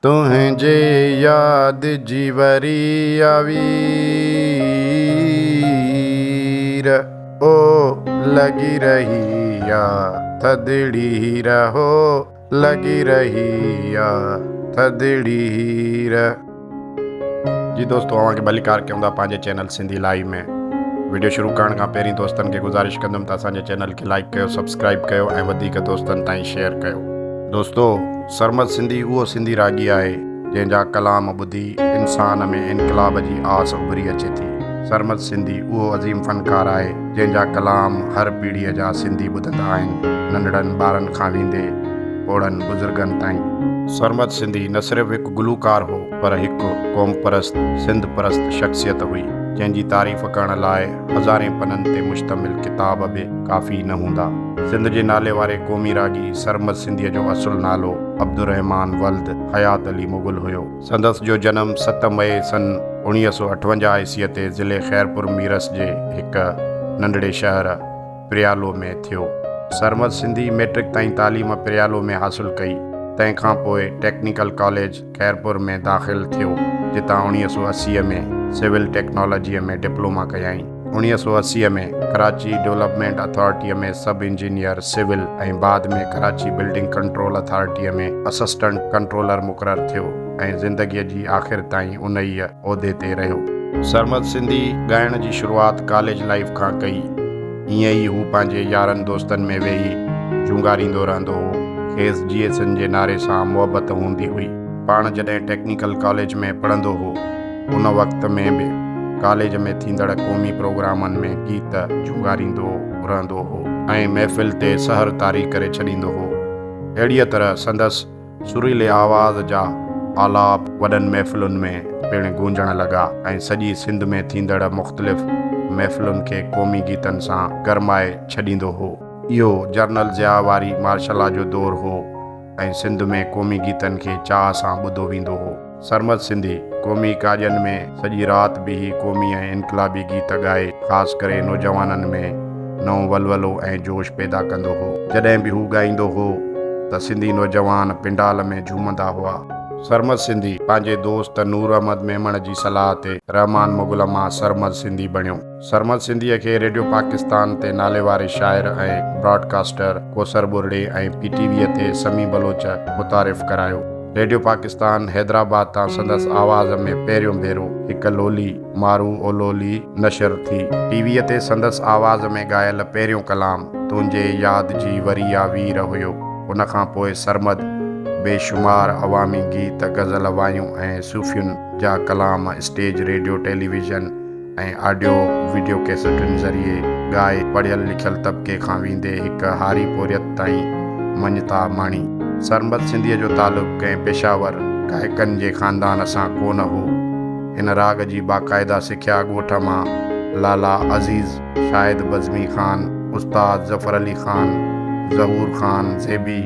تنهنجي ياد جي وري آوير او لڳي رهي آ ٿڌڙي هير هو لڳي رهي آ ٿڌڙي هير. جي دوستو اوهان کي ڀليڪار ڪيون ٿا پنهنجي چينل سنڌي لائيو ۾ وڊيو شروع ڪرڻ کان پهرين دوستن کي گذارش ڪندم ته اسان جي چينل کي لائيڪ ڪيو سبسڪرائيب ڪيو ۽ وڌيڪ دوستن تائين شيئر ڪيو دوستو. سرمد سنڌي اهو سنڌي راڳي آهي، جنهن جا ڪلام ٻڌي انسان ۾ انقلاب جي آس اڀري اچي ٿي. سرمد سنڌي اهو عظيم فنڪار آهي، جنهن جا ڪلام هر پيڙهيء جا سنڌي ٻڌندا آهن، ننڍڙن ٻارن کان ويندي پوڙهن بزرگن تائين. سرمد سنڌي نه صرف هڪ گلوڪار هو، پر هڪ قومپرست، سنڌ پرست شخصيت هئي، جنهن جي تعريف ڪرڻ لاء هزارين پنن تي مشتمل ڪتاب به ڪافي نه هوندا. سنڌ جي نالي واري قومي راڳي سرمد سنڌيء جو اصل نالو عبدالرحمان ولد حيات علي مغل هيو. سندس جو جنم ست مئي سن اوڻيهه سؤ اٺونجاهه عيسويء تي ضلعي خيرپور ميرس جي هڪ ننڍڙي شهر پريالو ۾ ٿيو. سرمد سنڌي مئٽرڪ تائين تعليم پريالو ۾ حاصل ڪئي، تنهن کان پوء ٽيڪنيڪل ڪاليج، خيرپور ۾ داخل ٿيو، جتان اوڻيهه سؤ اسي ۾ سول ٽيڪنالاجيء ۾ ڊپلوما ڪيائين. اوڻيهه سؤ اسي ۾ ڪراچي ڊولپمينٽ اٿارٽيء ۾ سب انجنيئر سول ۽ بعد ۾ ڪراچي بلڊنگ ڪنٽرول اٿارٽيء ۾ اسسٽنٽ ڪنٽرولر مقرر ٿيو ۽ زندگيء جي آخر تائين انهيء عهدي تي رهيو. سرمد سنڌي ڳائڻ جي شروعات ڪاليج لائيف کان ڪئي. ائين ئي هو پنهنجي يارن دوستن ۾ ويهي چونگاريندو رهندو هو. کيس جي ايس اين جي نعري سان محبت هوندي هئي. پاڻ جڏهن ٽيڪنيڪل ڪاليج ۾ پڙهندو هو ان وقت ۾ به ڪاليج ۾ ٿيندڙ قومي پروگرامن ۾ گيت چونگاريندو رهندو هو. ۽ محفل تي سحر طاري ڪري ڇڏيندو هو. اهڙيء طرح سندس سريلي آواز جا آلاپ وڏن محفلن ۾ پڻ گونجڻ لڳا ۽ سڄي سنڌ ۾ ٿيندڙ مختلف محفلن کي قومي گيتن سان گرمائي ڇڏيندو هو. اهو جرنل ضياء واري مارشلا جو دور هو ۽ سنڌ ۾ قومي گيتن کي چاهه سان ٻڌو ويندو هو. سرمد سنڌي قومي ڪاڄن ۾ سڄي رات بيهي قومي ۽ انقلابي گيت ڳائي خاص ڪري نوجوانن ۾ نئون ولولو ۽ جوش پيدا ڪندو هو. جڏهن به هو ڳائيندو هو ته سنڌي نوجوان پنڊال ۾ جهومندا هئا. سرمد سنڌي پنهنجي دوست نور احمد ميمڻ جي صلاح تي رحمان مغل مان سرمد سنڌي بڻيو. سرمد سنڌيء کي ريڊيو پاڪستان تي ناليواري شاعر ۽ براڊ ڪاسٽر ڪوثر ٻرڙي ۽ پي ٽي ويء تي سميع بلوچ متعارف ڪرايو. ريڊيو پاڪستان حيدرآباد تان سندس آواز ۾ پهريون ڀيرو هڪ لولي، مارو او لولي، نشر ٿي. ٽي ويء تي سندس آواز ۾ ڳايل پهريون ڪلام تنهنجي ياد جي وري آ وير هيو. ان کان پوء سرمد بي شمار عوامي گيت، غزل، وايون ۽ صوفين جا ڪلام stage, radio, television, ۽ audio video ڪيسٽن ذريعي ڳائي پڙهيل لکيل طبقي کان ويندي هڪ هاري پورهيت تائين مڃتا ماڻي. سرمد سنڌيء جو تعلق ڪنهن پيشاور گائڪن جي خاندان سان ڪو نه هو. هن راڳ جي باقاعده سکيا ڳوٺ مان لالا عزيز، شاهد بزمي خان، استاد ظفر علي خان، ظهور خان زيبي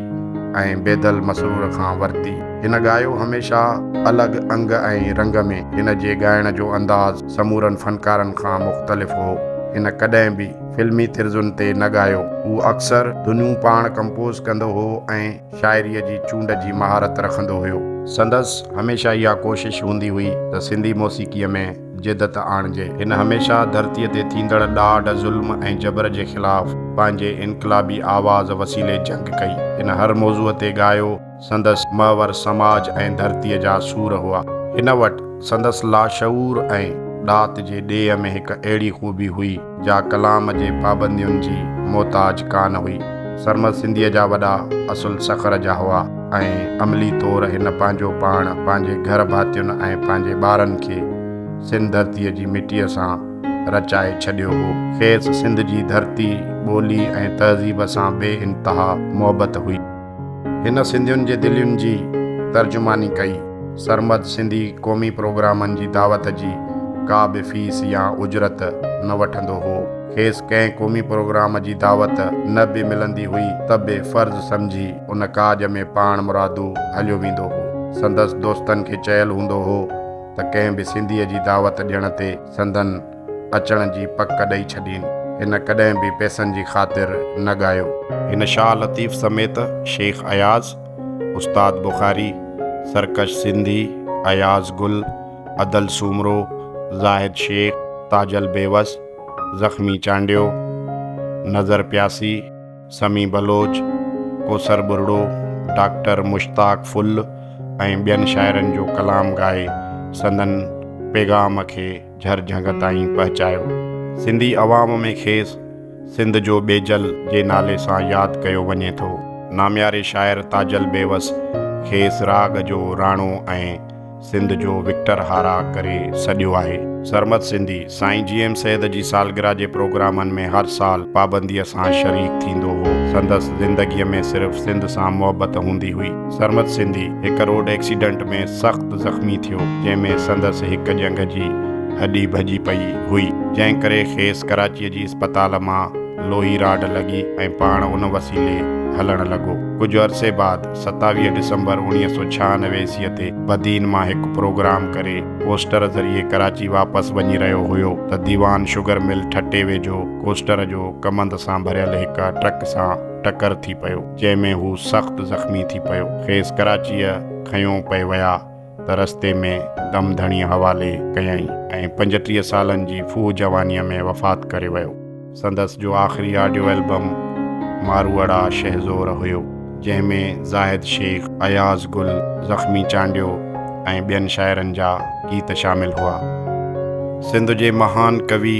۽ بيدل مسرور کان ورتي. هن ڳايو هميشه الڳ انگ ۽ رنگ ۾. هن جي ڳائڻ جو انداز سمورن فنڪارن کان مختلف هو. هن ڪڏهن به فلمي طرزن تي نه ڳايو. هو اڪثر ڌنيون پاڻ ڪمپوز ڪندو هو ۽ شاعريء جي چونڊ جي مهارت رکندو هيو. سندس هميشه اها ڪوشش هوندي هئي ته سنڌي موسيقيء ۾ جدت آڻجي. هن هميشه ڌرتيء تي ٿيندڙ ڏاڍ، ظلم ۽ جبر جي خلاف پنهنجي انقلابي آواز وسيلي جنگ ڪئي. هن هر موضوع تي ڳايو. سندس محور سماج ۽ ڌرتيء جا سور هئا. هن وٽ سندس لاشعور ۽ ڏات جي ڏيهه ۾ هڪ اهڙي خوبي هئي، جا ڪلام جي پابندين جي محتاج ڪانه هئي. سرمد سنڌيء جا وڏا اصل سکر جا هئا ۽ عملي طور هن پنهنجو پاڻ، پنهنجي گهر ڀاتين ۽ پنهنجي ٻارن کي سنڌ ڌرتيء جي مٽيء سان رچائي ڇڏيو هو. کيس سنڌ جي ڌرتي، ٻولي ۽ تهذيب سان بي انتها محبت هئي. هن سنڌين جي دلين جي ترجماني ڪئي. سرمد سنڌي قومي پروگرامن جي دعوت جي ڪا به فيس يا اجرت نه وٺندو هو. کيس ڪنهن قومي پروگرام جي دعوت نه به ملندي هئي ته به فرض سمجهي ان ڪاڄ ۾ پاڻ مرادو هليو ويندو هو. سندس دوستن کي چيل هوندو هو ته ڪنهن به سنڌيء جي دعوت ڏيڻ تي سندن اچڻ جي پڪ ڏئي ڇڏين. هن ڪڏهن به پئسن جي خاطر نه ڳايو. هن شاهه لطيف سميت شيخ اياز، استاد بخاري، سرڪش سنڌي، اياز گل، ادل سومرو، زاهد شيخ، تاجل بيوس، زخمي چانڊيو، نظر پياسي، سمي بلوچ، ڪوثر ٻرڙو، ڊاڪٽر مشتاق ڦل ۽ ٻين شاعرن جو ڪلام ڳائي سندن پيغام کي جھر جھنگ تائين پهچايو. سنڌي عوام ۾ کيس سنڌ جو ٻيجل جي نالي سان ياد ڪيو وڃي ٿو. نامياري شاعر تاجل بيوس کيس راڳ جو راڻو ۽ سنڌ جو وڪٽر هارا ڪري سڏيو آهي. سرمد سنڌي سائين جي ايم سيد جي سالگرهه جي پروگرامن ۾ هر سال پابنديء سان شريڪ ٿيندو هو. سندس زندگيء ۾ صرف سنڌ سان محبت هوندي هئي. سرمد سنڌي هڪ روڊ ايڪسيڊنٽ ۾ سخت زخمي ٿيو جنهن ۾ سندس هڪ ڄنگهه جي هڏي ڀڄي پئي هئي جنهن ڪري کيس ڪراچي جي اسپتال مان لوهي راڊ لڳي ۽ پاڻ ان وسيلي هلڻ لڳو. ڪجهه عرصي بعد ستاويهه ڊسمبر اڻويهه سؤ ڇهانوي عيسويء تي بدين مان هڪ پروگرام ڪري ڪوسٽر ذريعي ڪراچي واپس وڃي رهيو هيو ته ديوان شگر مل ٺٽي ويجهو ڪوسٽر جو ڪمند سان ڀريل هڪ ٽرڪ سان ٽڪر ٿي پيو. جنهن ۾ هو سخت زخمي ٿي پيو. کيس ڪراچيء کنيو پئي ويا ته رستي ۾ دم ڌڻيء حوالي ڪيائين ۽ پنجٽيهه سالن جي ڦوهه جوانيء ۾ وفات ڪري ويو. سندس جو آخري آڊيو البم ماروئڙا شهزور هيو. جنهن ۾ زاهد شيخ، اياز گل، زخمي چانڊيو ۽ ٻين شاعرن جا گيت شامل هئا. سنڌ جي مهان ڪوي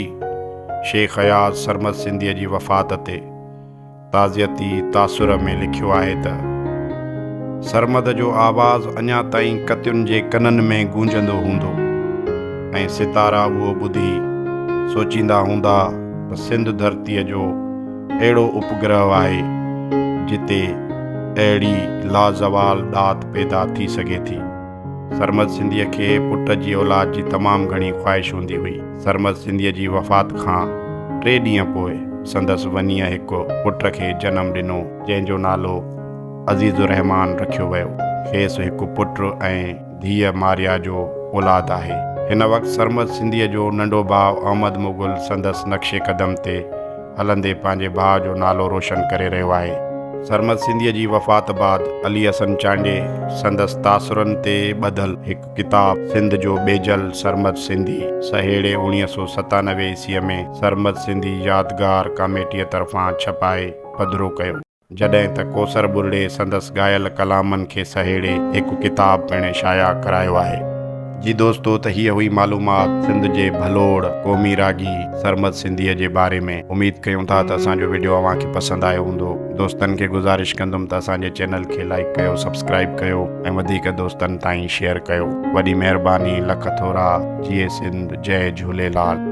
شيخ اياز سرمد سنڌيء جي وفات تي تعزيتي تاثر ۾ لکيو آهي ته، سرمد جو آواز اڃا تائين ڪتين جي ڪنن ۾ گونجندو هوندو ۽ ستارا اهو ٻڌي سوچيندا هوندا ته سنڌ ڌرتيء جو اهڙو اپگرهه آهي، جتي اهڙي لازوال ڏات پيدا ٿي سگهي ٿي. سرمد سنڌيء کي پٽ جي اولاد جي تمام گهڻي خواهش هوندي هئي. سرمد سنڌيء جي وفات کان ٽي ڏينهن پوء سندس ونيء هڪ پٽ کي جنم ڏنو، جنهن جو نالو عزيز الرحمان رکيو ويو. کيس هڪ پٽ ۽ ڌيء ماريا جو اولاد آهي. هن وقت سرمد سنڌيء جو ننڍو ڀاء احمد مغل سندس نقش قدم تي هلندي پنهنجي ڀاء جو نالو روشن ڪري رهيو آهي. سرمد سنڌيء جي وفات بعد علي حسن چانڊيي سندس تاثرن تي ٻڌل هڪ ڪتاب سنڌ جو ٻيجل سرمد سنڌي سهيڙي اوڻيهه سؤ ستانوي عيسويء ۾ سرمد سنڌي يادگار ڪاميٽيء طرفان ڇپائي پڌرو ڪيو. جڏهن ته ڪوثر ٻرڙي سندس ڳايل ڪلامن کي سهيڙي هڪ ڪتاب پڻ شايع ڪرايو آهي. جي دوستو ته هيء هئي معلومات سنڌ جي ڀلوڙ قومي راڳي سرمد سنڌيء جي باري ۾ اميد ڪيون ٿا ته اسان جو وڊيو اوهان کي پسند آيو هوندو دوستن کي گذارش ڪندم ته اسان جي چينل کي لائيڪ ڪيو سبسڪرائيب ڪيو ۽ وڌيڪ دوستن تائين شيئر ڪيو وڏي مهرباني لک ٿورا جيئي سنڌ جئي جهوليلال.